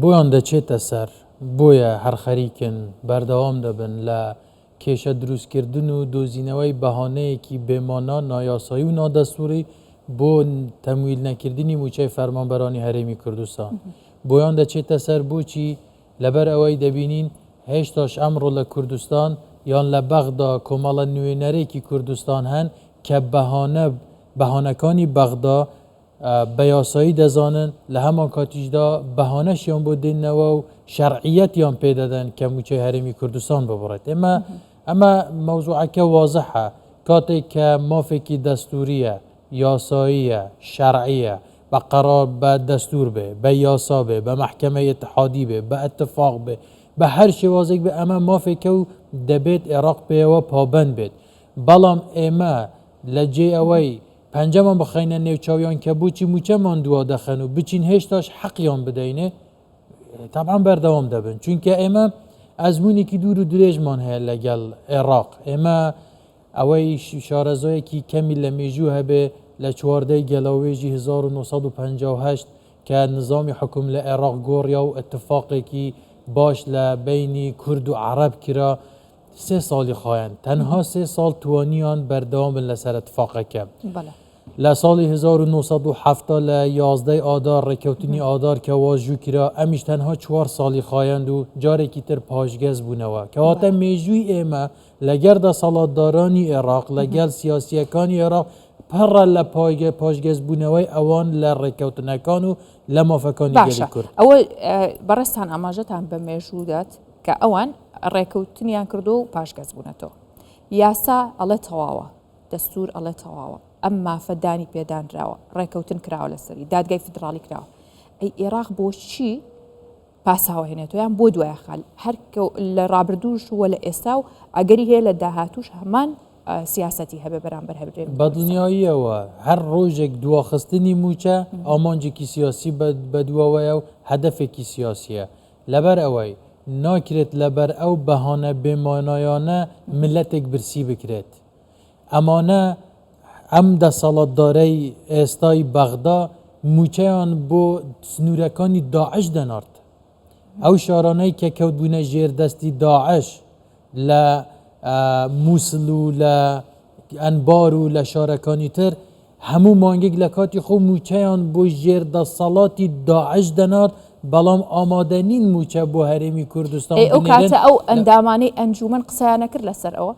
بۆیان دەچێتە سەر، بۆیە هەر خەریکن بەردەوام دەبن لە کێشە دروستکردن و دۆزینەوەی بەهانەیەکی بێ مانا، نایاسایی و نادەستووری بۆ تەمویل نەکردنی مووچەی فەرمانبەرانی هەرێمی کوردستان. بۆیان دەچێتە سەر بۆچی؟ لەبەر ئەوەی دەبینین هێشتاش ئەمڕۆ لە کوردستان یان لە بەغدا کۆمەڵە نوێنەرێکی کوردستان هەن کە بەهانە، بەهانەکانی بەغدا، بە یاسایی دەزانن، لە هەمانکاتیشدا بەهانەشیان بۆ دێننەوە و شەرعییەتیان پێ دەدەن کە مووچەی هەرێمی کوردستان ببڕێت. ئێمە ئەمە مەوزووعەکە وازحە، کاتێک کە مافێکی دەستوورییە، یاساییە، شەرعییە، بە قەرار، بە دەستوور بێ، بە یاسا بێ، بە مەحکەمەی ئیتحادی بێ، بە ئیتفاق بێ، بە هەر شێوازێک بێ، ئەمە مافێکە و دەبێت عێراق پێیەوە پابەند بێت. بەڵام ئێمە لە جێی ئەوەی، پەنجەمان بخەینە نێو چاویان کە بۆچی موچەمان دوا دەخەن و بچین هێشتاش حەقیان بدەینێ تابان بەردەوام دەبن چونکە ئێمە ئەزمونێکی دوور و درێژمان هەیە لەگەڵ عێراق ئێمە ئەوەی شارەزۆیەکی کەمی لە مێژوو هەبێ لە چواردەی گەلاوێژی 1950 کە نظامی حکوم لە عێراق گۆڕیا و اتفاقێکی باش لە بینی کورد و عرب کرا سێ ساڵی خایاند، تەنها سێ ساڵ توانیان بەردەوام بن لەسەر اتفاقەکە. بەڵێ. لە ساڵی هەزار و نۆ سەد و حەفتا لە یازدە ی ئادار ڕێککەوتنی ئادار کە واژوو کرا، ئەمیش تەنها چوار ساڵی خایاند و جارێکی تر پاشگەز بوونەوە. کەواتە بەڵێ. مێژووی ئێمە لەگەر دەسەڵاتدارانی ئێڕاق، لەگەل سیاسییەکانی ئێڕاق پڕە لە پایگە پاشگەز بوونەوەی ئەوان لە ڕێککەوتنەکان و لە مافەکانی گەلی باشە. کورد. ئەوە بەڕێزتان ئاماژەتان بە مێژوو دات، کە ئەوان ڕێکەوتنیان کردووە و پاشگەزبوونەتەوە. یاسا ئەڵێ تەواوە، دەستوور ئەڵێ تەواوە، ئەم مافە دانی پێدانراوە، ڕێکەوتن کراوە لەسەری، دادگای فیدراڵی کراوە، ئەی ئێراق بۆچی پاساو ئەهێنێتەوە یان بۆ دوای ئەخا؟ هەر لە ڕابردووش بووە لە ئێستا و ئەگەری هەیە لە داهاتووش هەمان سیاسەتی هەبێ بەرامبەر هەبرێ بەدڵنیاییەوە هەر ڕۆژێک دواخستنی مووچە ئامانجێکی سیاسی بەدواوەیە و هەدەفێکی سیاسیە. لەبەر ئەوەی ناکرێت لەبەر ئەو بەهانە بێ مانایانە میللەتێک برسی بکرێت. ئەمانە، ئەم دەسەڵاتدارەی ئێستای بەغدا مووچەیان بۆ سنوورەکانی داعش دەنارد. ئەو شارانەی کە کەوتبوونە ژێر دەستی داعش، لە موسڵ و لە ئەنبار و لە شارەکانی تر هەموو مانگێک لە کاتی خۆ مووچەیان بۆ ژێر دەسەڵاتی داعش دەنارد بەڵام ئامادە نین مووچە بۆ هەرێمی کوردستان ئەی ئەو کاتە ئەو ئەندامانەی ئەنجومەن قسەیان نەکرد لەسەر ئەوە؟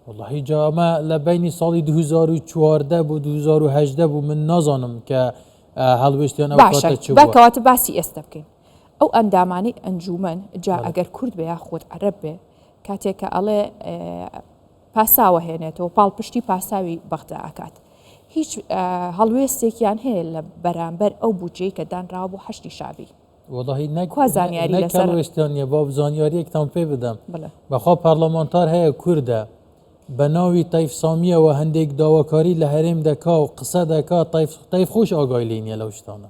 وەڵاهی جا ئەمە لە بینی ساڵی 2014 بۆ 2018 بوو من نازانم کە هەڵوێستیان ئەو کاتە چ بووە. باشە با کەواتە باسی ئێستە بکەین. ئەو ئەندامانەی ئەنجوومەن جا ئەگەر کورد بێ یاخود عەرەب بێ کاتێک کە ئەڵێ پاساوە هێنێتەوە پاڵپشتی پاساوی بەغدا ئەکات هیچ هەڵوێستێکیان هەیە لە بەرامبەر ئەو بودجەی کە دانراوە بۆ حەشتی شابی وڵی نەکوازانیاری لەسەر وێستانە با زانیاریەکتان پێ بدەم بەخوا پارلەمانتار هەیە کووردە بە ناوی تایف سامیەوە هەندێک داواکاری لە هەرێم دەکا و قسە دەکا تایف خۆش ئاگای لینە لەو شتانە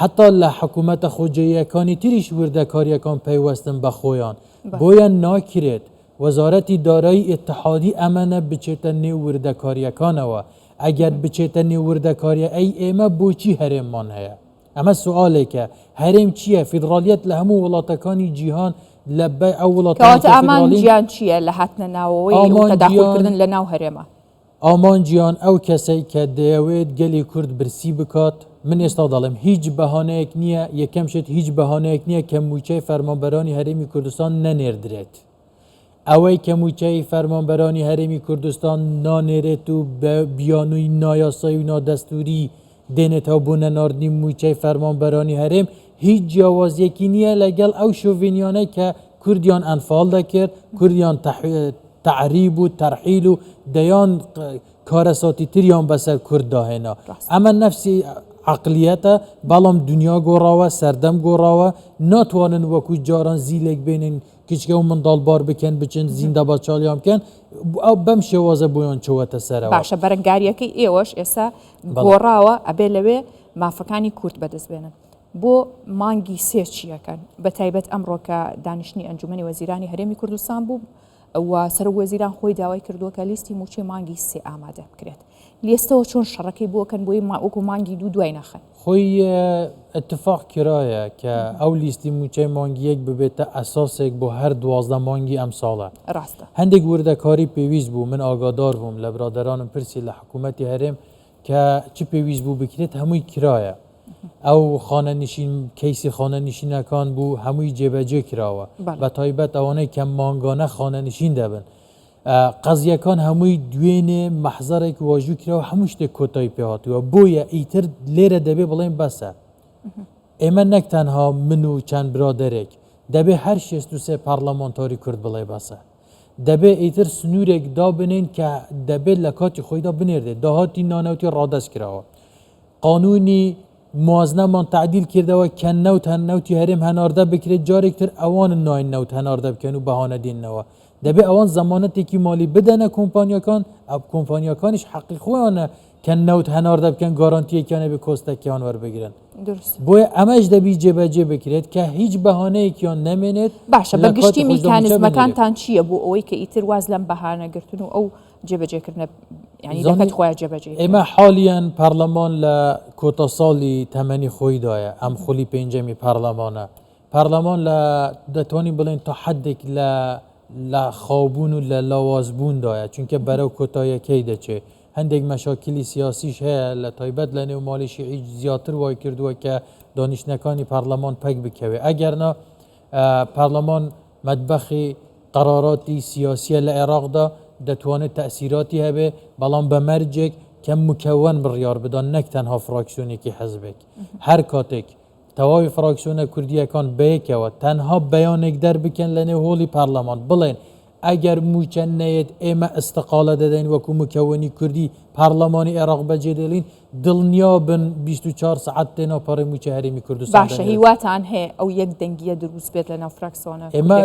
حەتا لە حکومەتە خۆجێیەکانی تریش وردەکاریەکان پەیوەستن بە خۆیان، بۆیە ناکرێت وەزارەتی دارایی ئیتحادی ئەمەنە بچێتە نێو وردەکاریەکانەوە، ئەگەر بچێتە نێو وردەکاریە ئەی ئێمە بۆچی هەرێممان هەیە؟ ئەمە سوالێکە، هەرێم چیە؟ فیدرالیەت لە هەموو وڵاتەکانی جیهان لە بە ئەو وڵاتانەی کە فیدراڵین. کەواتە ئامانجیان چیە لە هاتنە ناوەوەی و تەداخولکردن لە ناو هەرێمە؟ ئامانجیان ئەو کەسەی کە دەیەوێت گەلی کورد برسی بکات، من ئێستا دەڵێم هیچ بەهانەیەک نییە، یەکەم شت هیچ بەهانەیەک نییە کە مووچەی فەرمانبەرانی هەرێمی کوردستان نەنێردرێت. ئەوەی کە مووچەی فەرمانبەرانی هەرێمی کوردستان نانێرێت و بە بیانووی نایاسایی و نادەستووری دێنێتەوە بۆ نەناردنی مووچەی فەرمانبەرانی هەرێم، هیچ جیاوازییەکی نییە لەگەڵ ئەو شۆڤێنییانەی کە کوردیان ئەنفال دەکرد، کوردیان تەعریب و تەرحیل و دەیان کارەساتی تریان بەسەر کورددا هێنا. ئەمە نەفسی عەقلیەتە، بەڵام دنیا گۆڕاوە، سەردەم گۆڕاوە، ناتوانن وەکو جاران زیلێک بێنن، کچکە و منداڵ بار بکەن بچن زیندا بە چاڵیان بکەن ئەو بەم شێوازە بۆیان چوەتە سەرەوە باشە بەرەنگاریەکەی ئێوەش ئێستا گۆڕاوە ئەبێ لەوێ مافەکانی کورد بەدەست بێنن بۆ مانگی سێ چیەکەن بە تایبەت ئەمڕۆکە دانیشتنی ئەنجومی وەزیرانی هەرێمی کوردستان بوو و سەرۆک وەزیران خۆی داوای کردووە کە لیستی موچەی مانگی سێ ئامادە بکرێت لیستەوە چۆن شەڕەکەی بۆ ئەکەن بۆی وەکو مانگی دوو دوای ناخەن. خۆی ئتفاق کرایە کە ئەو لیستی مووچەی مانگی یەک ببێتە ئەساسێک بۆ هەر دوازدە مانگی ئەمساڵ. ڕاستە. هەندێک وردەکاری پێویست بوو، من ئاگادار بووم لە برادەرانم پرسی لە حکوومەتی هەرێم کە چ پێویست بوو بکرێت هەمووی کرایە. ئەو خانەنشین کەیسی خانەنشینەکان بوو هەمووی جێبەجێ کراوە بەتایبەت ئەوانەی کە مانگانە خانەنشین دەبن. قەزیەکان هەمووی دوێنێ مەحزەرێک واژوو کرا و هەموو شتێک کۆتایی پێهاتووە بۆیە ئیتر لێرە دەبێ بڵێن بەسە ئێمە نەک تەنها من و چەند برادێک دەبێ هەر شێست و سێ پارلەمانتاری کورد بڵێ بەسە دەبێ ئیتر سنوورێک دابنێن کە دەبێت لە کاتی خۆیدا بنێردێت داهاتی نانەوتی ڕادەست کراوە قانونی موازنەمان تعدیل کردەوە کە نەوت هەن نەوتی هەرێم هەناردە بکرێت جارێکتر ئەوان ناین نەوت هەناردە بکەن و بەهانە دێنەوە دەبێ ئەوان زەمانەتێکی مالی بدەنە کۆمپانیاکان، ئەو کۆمپانیاکانیش حەقی خۆیانە کە نەوت هەناردە بکەن گارانتییەکیان هەبێ کۆستەکیان وەربگرن. دروست. بۆیە ئەمەش دەبی جێبەجێ بکرێت کە هیچ بەهانەیەکیان نەمێنێت باشە لە کاتی بەگشتی خۆشدا مووچە بنێرێت. میکانیزمەکانتان چییە بۆ ئەوەی کە ئیتر واز لەم بەهانە گرتن و ئەو جێبەجێکردنە یانی زانی دەکەت خۆیان جێبەجێی بکەن؟ ئێمە حالیەن پارلەمان لە کۆتا ساڵی تەمەنی خۆیدایە، ئەم خولی پێنجەمی پارلەمانە، پارلمان لە دەتوانین بڵێن تا حدێک لە لە خاوبوون و لە لاوازبووندایە چونکە بەرەو کۆتایەکەی دەچێت هەندێک مەشاکلی سیاسیش هەیە لە تایبەت لە نێو ماڵی شیعی زیاتر وای کردووە کە دانیشتنەکانی پارلمان پەک بکەوێت ئەگەرنا پارلمان مەدبەخی قەراراتی سیاسیە لە عێراقدا دەتوانێت تەسیراتی هەبێ بەڵام بە مەرجێک کە مکەوەن بڕیار بدەن نەک تەنها فراکسیۆنێکی حەزبێک هەر کاتێک تەواوی فراکسیۆنە کوردییەکان بەیەکەوە تەنها بەیانێک دەربکەن لەنێو هۆڵی پارلەمان بڵێن ئەگەر مووچە نەیەت ئێمە ئیستقالە دەدەین وەکو مکەوەنی کوردی پارلەمانی عێراق بەجێدێڵین دڵنیابن بیست و چوار سەعات تێنا پەڕی مووچە هەرێمی کوردستان باشە هیواتان هەیە ئەو یەک دەنگیە دروست بێت لەناو فراکسیۆنە ئێمە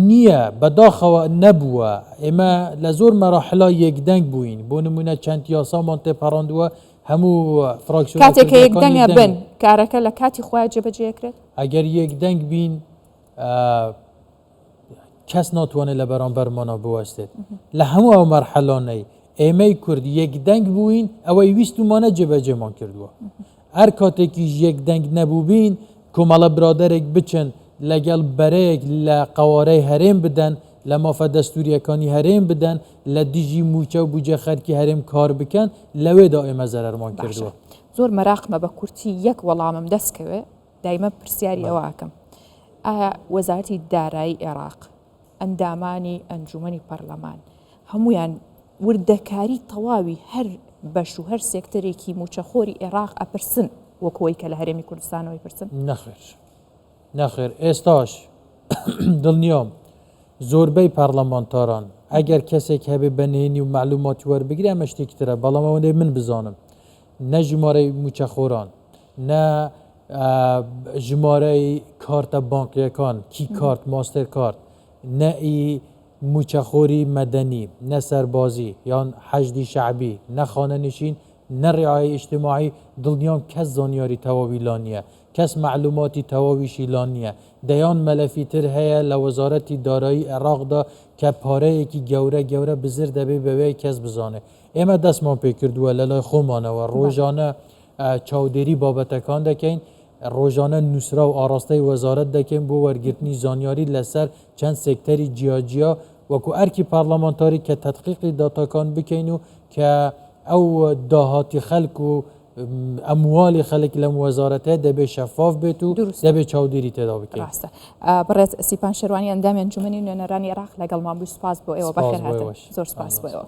نییە بەداخەوە نەبووە ئێمە لە زۆر مەراحلا یەکدەنگ بووین بۆ نمونە چەند یاسامان تێپەڕاندووە کاتێک کە یەک دەنگ بن کارەکە لە کاتی خۆیان جێبەجێ ئەکرێت؟ ئەگەر یەک دەنگ بین کەس ناتوانێت لە بەرامبەرمانەوە بوەستێت لە هەموو ئەو مەرحەلانەی ئێمەی کورد یەک دەنگ بووین ئەوەی ویستمانە جێبەجێمان کردووە هەر کاتێکیش یەک دەنگ نەبووبین کۆمەڵە برادێک بچن لەگەڵ بەرەیەک لە قەوارەی هەرێم بدەن لە مافە دەستوریەکانی هەرێم بدەن لە دژی موچە و بوجە خەرکی هەرێم کار بکەن لەوێدا ئێمە زەرەرمان باشە کردوە. زۆر مەراقمە بە کورتی یەک وەڵامم دەست کەوێ دایمە پرسیاری ئەوە بەڵێ. ئەکەم ئایا وەزارەتی دارایی ئێراق ئەندامانی ئەنجومەنی پەرلەمان هەموویان وردەکاری تەواوی هەر بەش و هەر سێکتەرێکی موچەخۆری ئێراق ئەپرسن وەک وەی کە لە هەرێمی کوردستانەوە ئەیپرسن؟ نەخێر. نەخێر ئێستاش دڵنیام زۆربەی پەڕڵەمانتاران ئەگەر کەسێک هەبێ بە نهێنی و مەعلوماتی وەربگرێ ئەمە شتێکی ترە بەڵام ئەوەندەی من بزانم نە ژمارەی مووچەخۆران نە ژمارەی کارتە بانقیەکان کی کارت ماستێر کارت نە ئی مووچەخۆری مەدەنی نە سەربازی یان حەشدی شەعبی نە خانەنشین نە ڕیعای ئیشتیماعی دڵنیام کەس زانیاری تەواوی لا نییە کەس مەعلوماتی تەواویشی لا نییە. دەیان مەلەفی تر هەیە لە وەزارەتی دارایی عێراقدا کە پارەیەکی گەورە گەورە بزر دەبێ بەوێ کەس بزانێ. ئێمە دەستمان پێ کردووە لە لای خۆمانەوە ڕۆژانە چاودێری بابەتەکان دەکەین، ڕۆژانە نووسراو ئاڕاستەی وەزارەت دەکەین بۆ وەرگرتنی زانیاری لەسەر چەند سێکتەری جیا جیا وەکوو ئەرکی پارلەمانتاری کە تەدقیقی داتاکان بکەین و کە ئەو داهاتی خەلک و ئەمواڵی خەلک لەم وەزارەتە دەبێت شەفاف بێت و دەبێت چاودێری تێدا بکەین ڕاستە بڕێت سیپان شەروانی ئەندامی ئەنجومنی نوێنەرانی عراق لەگەڵمان بوو سپاس بۆ ئێوە بەخێر هاتن زۆر سپاس بۆ ئێوە.